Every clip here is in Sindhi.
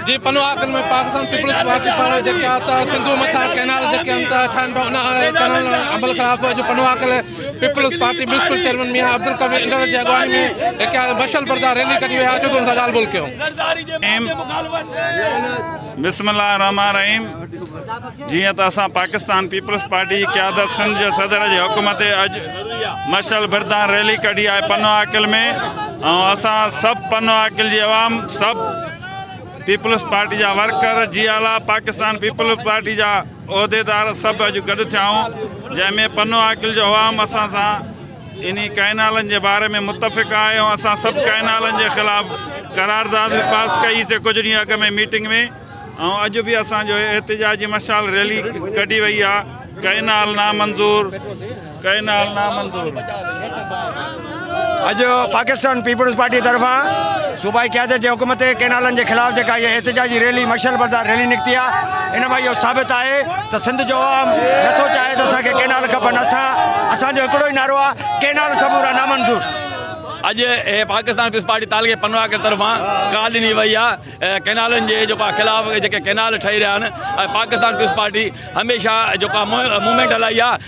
جي پنو آڪن ۾ پاڪستان پيپلز پارٽي پارا جيڪا ته سنڌو مٿا ڪينال جيڪي انت ٺاهن پيا ان ڪرڻ عمل خلاف جو Pano Akil Peoples Party municipal chairman Mian Abdul Qavi انڊڙ جي اڳواڻي ۾ هڪ مشعل بردار ريلي ڪڍي ويا اچو ته ان سان ڳالهه ٻولهه ڪيون. بسم الله الرحمٰن الرحيم جيئن ته اسان پاڪستان پيپلز پارٽي جي قيادت سنڌ جي صدر جي حڪم تي اڄ مشعل بردان ريلي ڪڍي آهي پنو عاقل ۾ ۽ اسان سڀ پنو عاقل جي عوام سڀ پيپلز پارٽي جا ورڪر، جي اعليٰ پاڪستان پيپلز پارٽي جا عهديدار سڀ اڄ گڏ ٿيائون جنهن ۾ پنو عاقل جو عوام اسان سان انهي ڪئنالن جي باري ۾ متفق آهي ۽ اسان سڀ ڪئنالن جي خلاف قرارداد به پاس ڪئي سي ڪجهه ڏينهن اڳ ۾ ميٽنگ ۾ ۽ اڄ به اسان جو احتجاجي مشال ريلي ڪڍي وئي آهي ڪئنال نامنظور ڪئنال نامنظور اڄ پاڪستان پيپلز پارٽي طرفان صوبائي قيادت جي حڪم تي ڪئنالن جي خلاف جيڪا هيء احتجاجي ريلي مشعل بردار ريلي نڪتي آ ان مان اهو ثابت آهي ته سنڌ جو عوام نٿو چاهي ته اسان کي ڪئنال کپن اسان اسان جو هڪڙو ئي نعرو آ ڪئنال سمورا نامنظور. اڄ هيء پاڪستان پيپلز پارٽي تعلقي پنواڪر طرفان ڪال ڏني وئي آ ڪئنالن جي جيڪو آ خلاف جيڪي ڪئنال ٺهي رهيا آهن ۽ پاڪستان پيپلز پارٽي هميشه جيڪو آ موومينٽ هلائي آ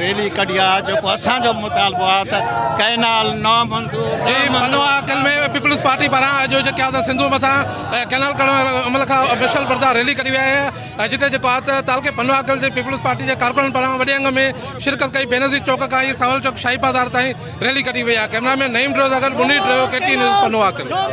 ريلي ڪڍي آ جيڪو اسان جو مطالبو آ ته ڪئنال نا منظور جي منو آ ڪل ۾ پيپلز پارٽي پاران اڄ جو ڪيا ته سنڌو مٿان ڪئنال ڪڍڻ واري عمل کان مشل بردار ريلي ڪڍي ويا آ جتي جيڪو آ ته تعلقي پنو آ ڪل جي پيپلز پارٽي جي ڪارڪنن پاران وڏي انگ ۾ شرڪت ڪئي بينظير چوڪ کان اي ساول چوڪ شاهي بازار تائين ريلي ڪڍي وئي آ ڪئمرا مين نعيم ڊريو سان گڏ بني ڊريو ڪي ٽي نيوز پنو آ ڪل.